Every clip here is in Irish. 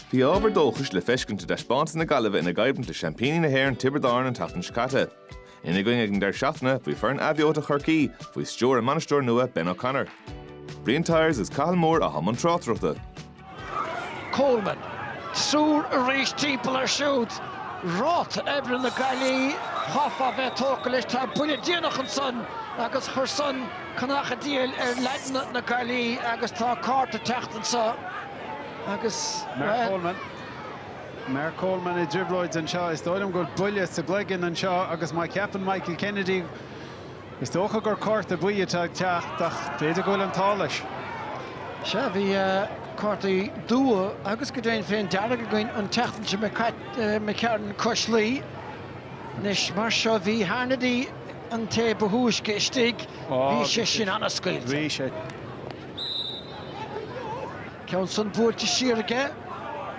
Bhí ábhar dóchais le feiscint i dtaispeántas na Gaillimhe ina gcoimhlint le seaimpíní na hÉireann Tiobraid Árann an tseachtain seo caite. Ina gcoinne ag an deireadh seachtaine bhí foireann athbheoite Chorcaí faoi stiúir a mbainisteoir nua Ben O'Connor. Brian Tyers agus Cathal Moore atá i mbun tráchtaireachta. Coleman. Triúr arís timpeall air siúd. Ráta oibre na Gaillimhe, chaithfeá a bheith tógtha leis. Tá buille déanach ansan agus chuir san. conach an diabhail ar leaideanna na Gaillimhe agus tá cárta ag teacht anso agus Mark Coleman. Mark Coleman i dtrioblóid anseo. Is dóigh liom go bhfuil buille sa gcloigeann anseo agus má cheapann Michael Kennedy, is dócha gur cárta buí atá ag teacht ach b'fhéidir go bhfuil an t-ádh leis. Sea, bhí cártaí dubha agus go deimhin féin dearg againn an tseachtain seo d'imigh tharainn cois Laoi. Anois mar seo bhí Harnedy. an té ba thúisce istigh, bhí sé sin an-scaoilte. Ceann san buailte siar aige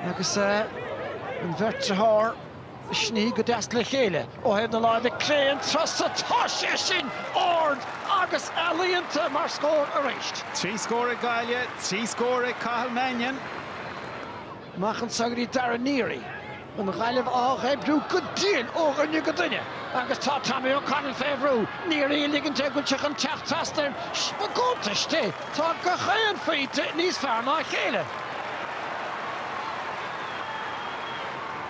agus an bheirt dearthár ag sní go deas le chéile. Ó thaobh na láimhe clé an turas so, tá sé sin ard agus ealaíonta mar scór arís. Trí scór ag Gaillimh, trí scór ag Cathal Mannion. Amach anso go dtí Darragh Neary, an Ghaillimh á dh'oibriú go diail ó dhuine go duine agus tá Tommy O'Connell fé bhrú Neary ag ligint air go bhfuil sé chun teacht trasna air i gcuntais di. Tá gach aon phointe níos fearr ná a chéile.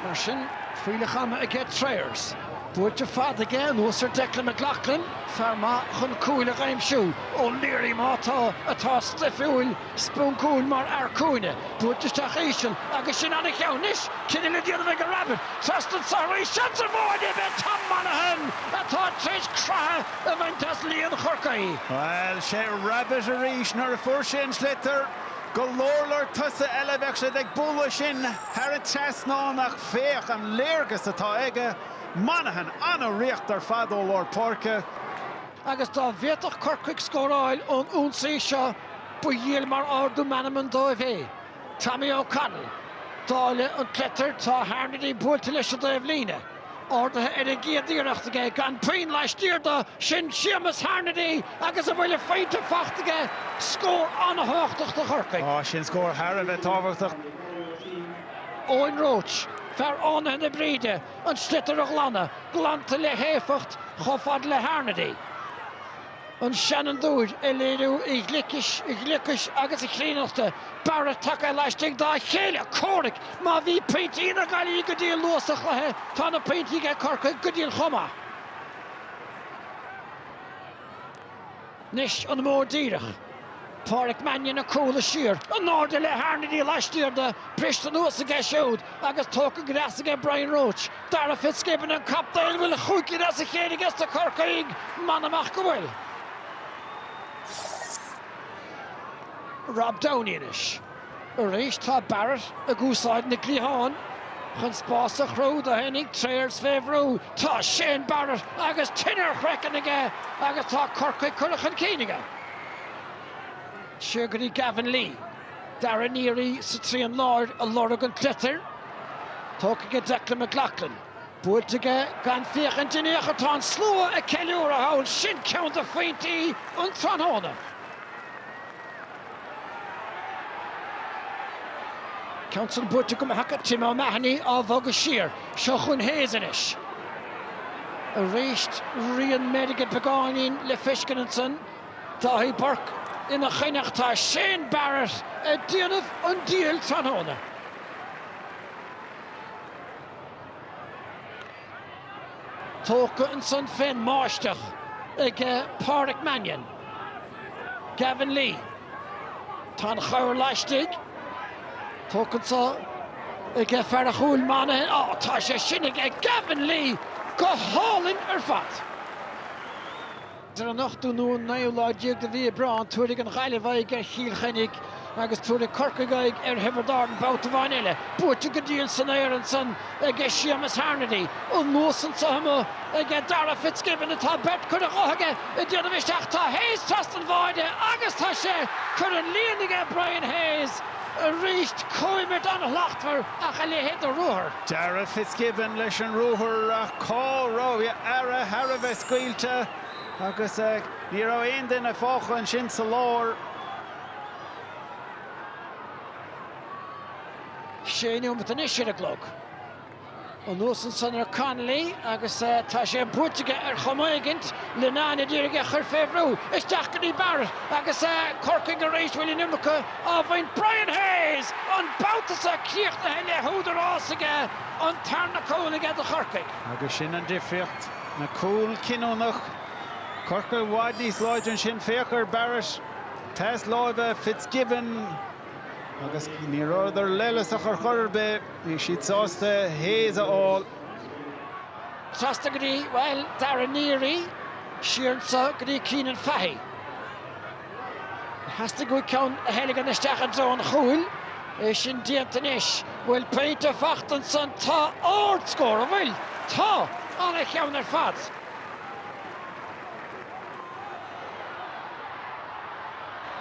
Mar sin, fuílleach ama aige Trayers. Buailte fada aige anuas ar Declan McLoughlin, fear maith chun cúil a aimsiú, O'Leary má tá atá stuifiúil, sponcúil mar fhear cúinne, buailte isteach íseal agus sin an-cheann anois, cinneadh le déanamh aige Rabbitte trasna anso arís, seans ar bháide, ab é Tom Monaghan atá tar éis creathadh a bhaint as líon Chorcaí. Bhuel, sé Rabbitte arís, nuair a fuair sé an sliotar, go leor leor tosaithe eile, bheadh siad ag bualadh sin thar an trasnán ach féach an léargas atá aige, Monaghan an-ritheacht ar fad ó lár páirce. agus dá bhféadfadh Corcaigh scóráil ón ionsaí seo ba dhiail mar ardú meanman dóibh é. Tommy O'Connell, ag dáileadh an tsliotair, Tá Harnedy buailte leis an dtaobhlíne. Ardaithe ar an gcéad iarracht aige, gan puinn laistiar de, sin Séamus Harnedy agus a bhuille phointe faighte aige, scór an-thábhachtach do Chorcaigh. Tá, sin scór thar a bheith tábhachtach. Eoin Roche, fear Fhánaithe na Bríde, an sliotar a ghlanadh, glanta le héifeacht chomh fada le Harnedy, an seanfhondúir, ag léiriú a ghlicis, a ghliocais agus a chríonnachta, Barrett tagtha laistigh dá chéile comhraic, má bhí pointí na Gaillimhe go diail luath sa chluiche, tá na pointí aige Corcaigh go diail chomh maith. Anois an-mhór díreach. Pádraic Mannion ag cúlú siar in airde le Harnedy laistiar de, briste anuas aige siúd agus tógtha go deas aige Brian Roche. Darragh Fitzgibbon an captaen. Bhfuil a chúig cinn as a chéile aige do Chorcaigh? M'anam ach go bhfuil. Rob Downey anois. Arís tá Barrett ag úsáid na gcliathán chun spás a chruthú dó féinig, Trayers fé bhrú. Tá Shane Barrett agus tine ar a chraiceann aige agus tá Corcaigh curtha chun cinn aige. Siar go dtí Gavin Lee. Darragh Neary sa trian láir ag lorg an tsliotair. Tógtha aige Declan McLoughlin. Buailte aige gan féachaint in ao'chor tá an slua ag ceiliúradh thall, sin ceann de phointí an tráthnóna. Ceann san buailte go maith acu, Tim O'Mahony á bhogadh siar, seo chun Hayes anois. Aríst rian meirge beagáinín le feiscint ansan, Dáithí Burke ina choinne ach tá Shane Barrett ag déanamh an diabhail tráthnóna. Tógtha ansan fén mbáisteach ag Pádraic Mannion, Gavin Lee. Tá an chabhair laistigh. Tógtha anso ag fear a' chúil, Monaghan. Á, tá sé sin ag Gavin Lee go hálainn ar fad. Is ar an ochtú nó an naoú lá déag de mhí Aibreáin, tabharfaidh an Ghaillimh aghaidh ar Chill Chainnigh agus tabharfaidh Corcaigh aghaidh ar Thiobraid Árann babhta amháin eile. Buaite go diail san aer ansan aige Séamus Harnedy. Anuas anso amuigh aige Darragh Fitzgibbon atá beirt curtha de aige ag déanamh isteach. Tá Hayes trasna an bháide agus tá sé curtha sa líon aige Brian Hayes. aríst, comhimirt an-shlachtmhar ach a leithéid de ruathar. Darragh Fitzgibbon leis an ruathar ach cá raibh earra thar a bheith scaoilte agus ní raibh aon duine fágtha ansin sa lár. Sé nóimeat anois ar an gclog. Anuas ansan ar Connolly agus tá sé buailte aige ar chuma éigin Linnane a d'iarraidh é a chur fé bhrú. Isteach go dtí Barrett agus Corcaigh arís bhfuil an iomarca á bhaint. Brian Hayes! An babhta seo críochnaithe le húdarás aige, an tarna cúl aige do Chorcaigh. Agus sin an difríocht, na cúil cinniúnach. Corcaigh i bhfad níos láidre ansin. Féach ar Barrett, pas láimhe, Fitzgibbon agus ní rabhadar leithleasach ar chor ar bith. Bhí siad sásta Hayes a fháil. Trasna go dtí, bhuel, Darragh Neary, siar anso go dtí Cianan Fahy. Theastaigh uaidh ceann a theilgean isteach i dtreo an chúil. É sin déanta anois. Bhfuil pointe fachta ansan. Tá ard-scór, an bhfuil? Tá, an-cheann ar fad.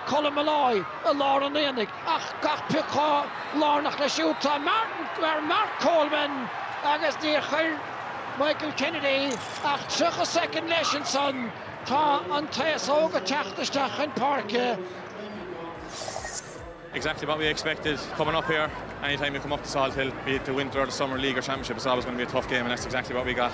Colm Molloy i lár an aonaigh ach gach pioc chomh lárnach leis siúd tá Mark Coleman agus níor chuir Michael Kennedy ach 30 second leis ansan. Tá an t-aos óg ag teacht isteach chun páirce. exactly what we expected coming up here. Any time you come up to Salthill, be it the winter or the summer league or championship, it's always going to be a tough game and that's exactly what we got.